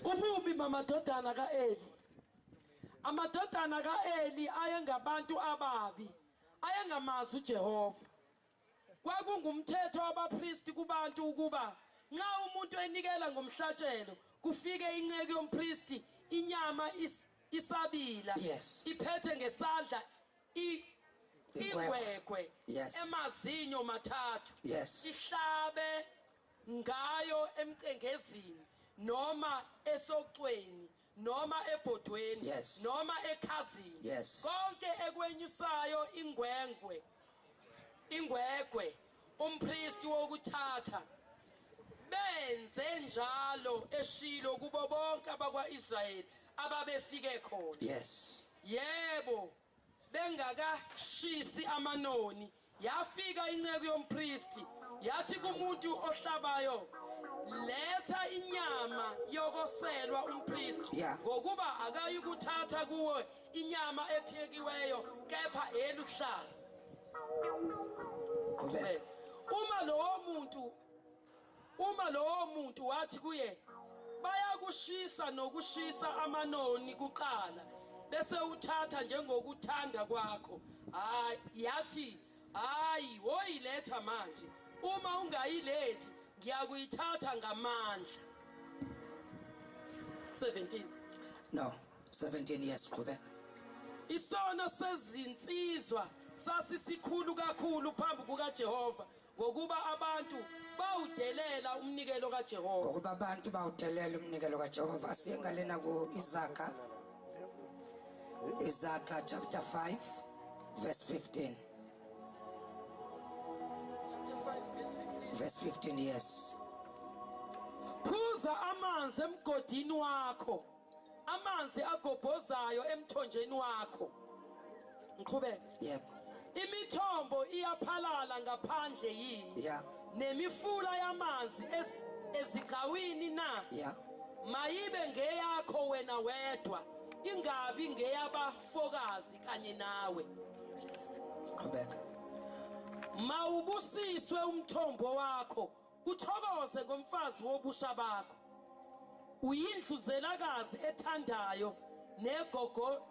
Ububi bamadodana ka-Eli. Amadodana ka-Eli ayengabantu ababi, ayengamazi uJehova. Kwakungumthetho wabapristi kubantu ukuba nxa umuntu enikela ngomhlatshelo kufike inceku yompristi inyama is, isabila yes. iphethe ngesandla ingwegwe yes. emazinyo mathathu yes. ihlabe ngayo emcengezini noma esocweni noma ebhodweni Yes. noma ekhazini Yes. konke ekwenyusayo ingwengwe ingwegwe umpristi wokuthatha benze njalo eshilo kubo bonke abakwa-israyeli ababefike khona Yes. yebo Bengakashisi amanoni, yafika inceku yompristi, yathi kumuntu ohlabayo, Letha inyama yokoselwa umpristi, Yeah. ngokuba akayikuthatha kuwe inyama ephekiweyo, kepha eluhlaza. Qhubeka. Uma lowo muntu Uma lowo muntu wathi kuye, Bayakushisa nokushisa amanoni kuqala, bese uthatha njengokuthanda kwakho, hayi, yathi, Hayi, woyiletha manje. Uma ungayilethi, ngiyakuyithatha ngamandla. 17. No, 17 years qhubeka. Isono sezinsizwa sasisikhulu kakhulu phambi kukaJehova Ngokuba abantu bawudelela umnikelo kaJehova. Ngokuba abantu bawudelela umnikelo kaJehova. Singa lena ku Isaka. Isaka chapter 5 verse 15. Verse 15 yes. Phuza amanzi emgodini wakho. amanzi agobhozayo emthonjeni wakho ngiqhubeke yebo imithombo iyaphalala ngaphandle yini yeah. nemifula yamanzi ezigcawini na yeah. mayibe ngeyakho wena wedwa ingabi ngeyabafokazi kanye nawe qhubeka mawubusiswe umthombo wakho Uthokoze ngomfazi wobusha bakho. Uyindluzelakazi ethandayo negogo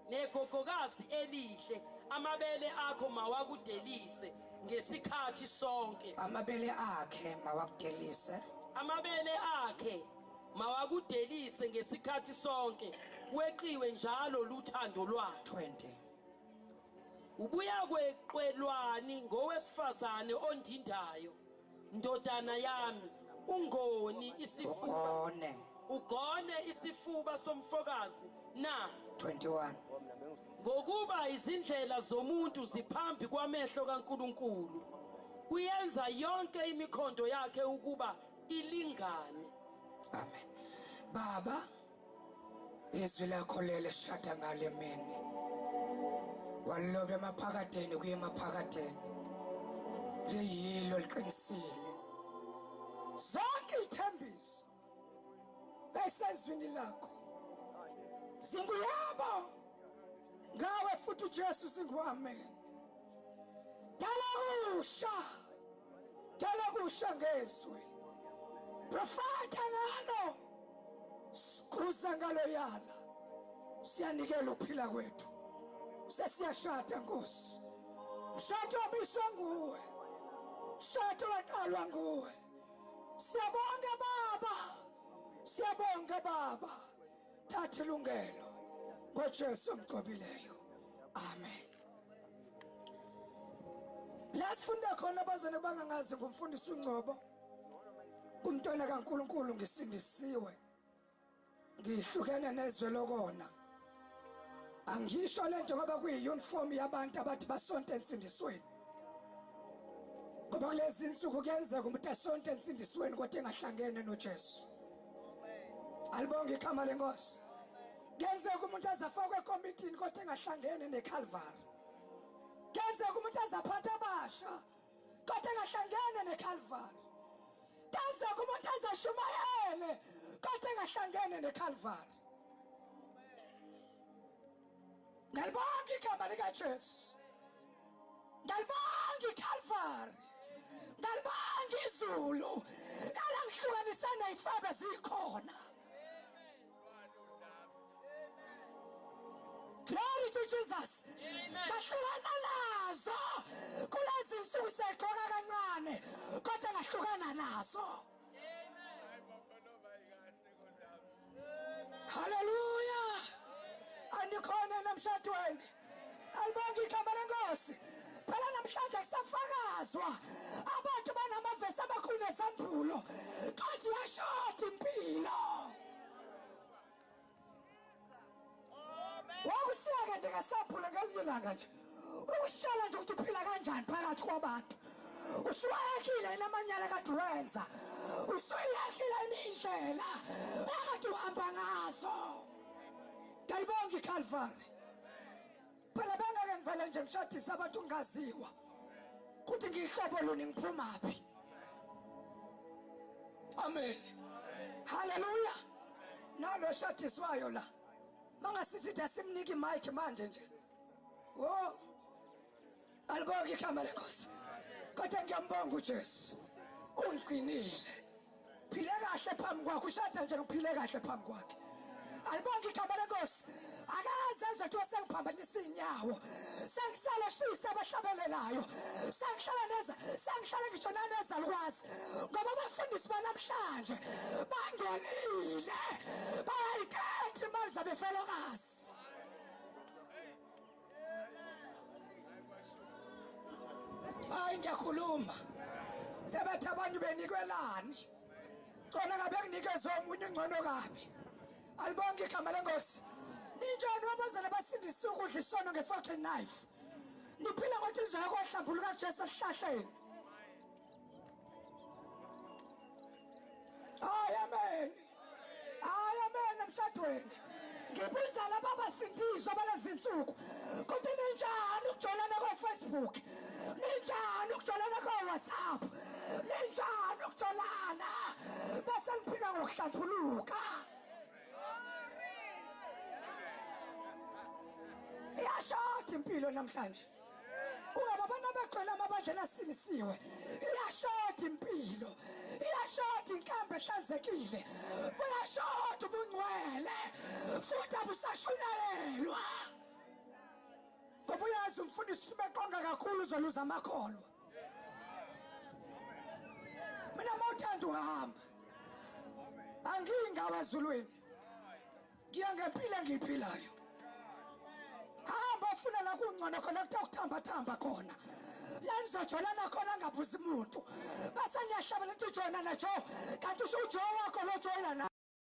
negogokazi elihle. Amabele akho mawakudelise ngesikhathi sonke. Amabele akhe mawakudelise. Amabele akhe mawakudelise ngesikhathi sonke weqiwe njalo luthando lwakhe 20 ubuya kweqwelwani ngowesifazane ondindayo Ndodana yami, ungoni isifuba. Ugone. Ugone isifuba somfokazi na? 21. Ngokuba izindlela zomuntu ziphambi kwamehlo kaNkulunkulu. Uyenza yonke imikhondo yakhe ukuba ilingane. Amen. Baba izwi lakho lele shada ngale mini walobe emaphakadeni kuye emaphakadeni liyilo liqinisile zonke ithembiso esezwini lakho zinguyabo ngawe futhi uJesu singuamen dala kusha dala kusha ngezwi profeta ngalo sikhuza ngaloyana siyanikela ukuphila kwethu sesiyashada nkosi mshado obiswa nguwe mshado waqalwa nguwe siyabonga baba siyabonga baba thatha ilungelo ngojesu omgcobileyo amen la sifunda khona abazane bangangazi ngumfundisi ungcobo umntwana kaNkuluNkulu ngisindisiwe ngihlukene nezwe lokona angisho lento ngoba kuyiuniform yabantu abathi basonta ensindisweni ngoba kulezi nsuku kuyenzeka umuntu asonta ensindisweni kodwa engahlangene noJesu alibonge igama lenkosi kuyenzeka umuntu azafakwe ekomitini kodwa engahlangene neCalvary kuyenzeka umuntu azaphatha abasha kodwa engahlangene neKalvari kaze kumuntu azashumayele kodwa engahlangene neKalvari ngiyalibonga igama likaJesu ngiyalibonga iKalvari ngiyalibonga izulu nalangihlukanisana ifabe zikhona Glory to Jesus. Ngahlukana nazo kulezi nsuku segqoka kancane kodwa ngahlukana nazo. Hallelujah. Andikhona namshadweni. Alibonke igama lenkosi. Phela namhlanje kusafakazwa abantu banamavesi amakhulu nesambulo. Kanti yashoti impilo. Wakusiya kade ngesambulo ngelinye ilanga nje. Ushela nje ukuthi uphila kanjani phakathi kwabantu. Usuwayekile namanyala kade wenza. Usuyekile indlela akade uhamba ngazo. Ngiyayibonga iCalvary. phela bengeke ngivele nje ngishadise abantu ngingaziwa kuthi ngiyihlobo luni ngiphumaphi amen haleluya nalo eshadiswayo la mangasithi dasimniki mike manje nje wo alibonge igama lenkosi kodwa ngiyambonga ujesu ungigcinile phile kahle phambi kwakhe ushada nje ngiphile kahle phambi kwakhe alibonge igama lenkosi akaze ezwe kuthiwa sengiphambanisa iy'nyawo sengihlala shisa abahlabelelayo sengihlala neza sengihlala ngisho nanezalukwazi ngoba abafundisi banamhlanje bangenile bayayikhetha imali zabefelokazi hayi ngiyakhuluma sebethi abantu benikwelani cona ngabe kunikezwe omunye ungcono kabi alibonke igama lengosi ninjani wabazana basindisa ukudla isono nge-fucking knife niphila ngothi lizoya kwahlambulu kajesu esihlahleni hayi amen hayi amen emshadweni ngibuza laba abasindiswa balezinsuku kuthi ninjani ukujolana kofacebook ninjani ukujolana kowhatsapp ninjani ukujolana bese niphila ngokuhlathuluka iyashoda impilo namhlanje Ungaba abantu abagcwele amabandla nasilisiwe. Iyashoda impilo. Iyashoda inkambe ehlanzekile. Kuyashoda ubungcwele. Futhi abusashunayelwa. Ngoba uyazi umfundisi ukuthi beqonga kakhulu uzoluza amakholwa. Mina mawuthanda uhamba. Angingawa ezulwini. ngiya ngempilo engiyiphilayo hamba funa la kungcono khona kuthiwa kuthambathamba khona la nizojolana khona ngabuzi muntu base niyahlabela ukuthi ujoyina najo kanti usho ujoy wakho lojoyina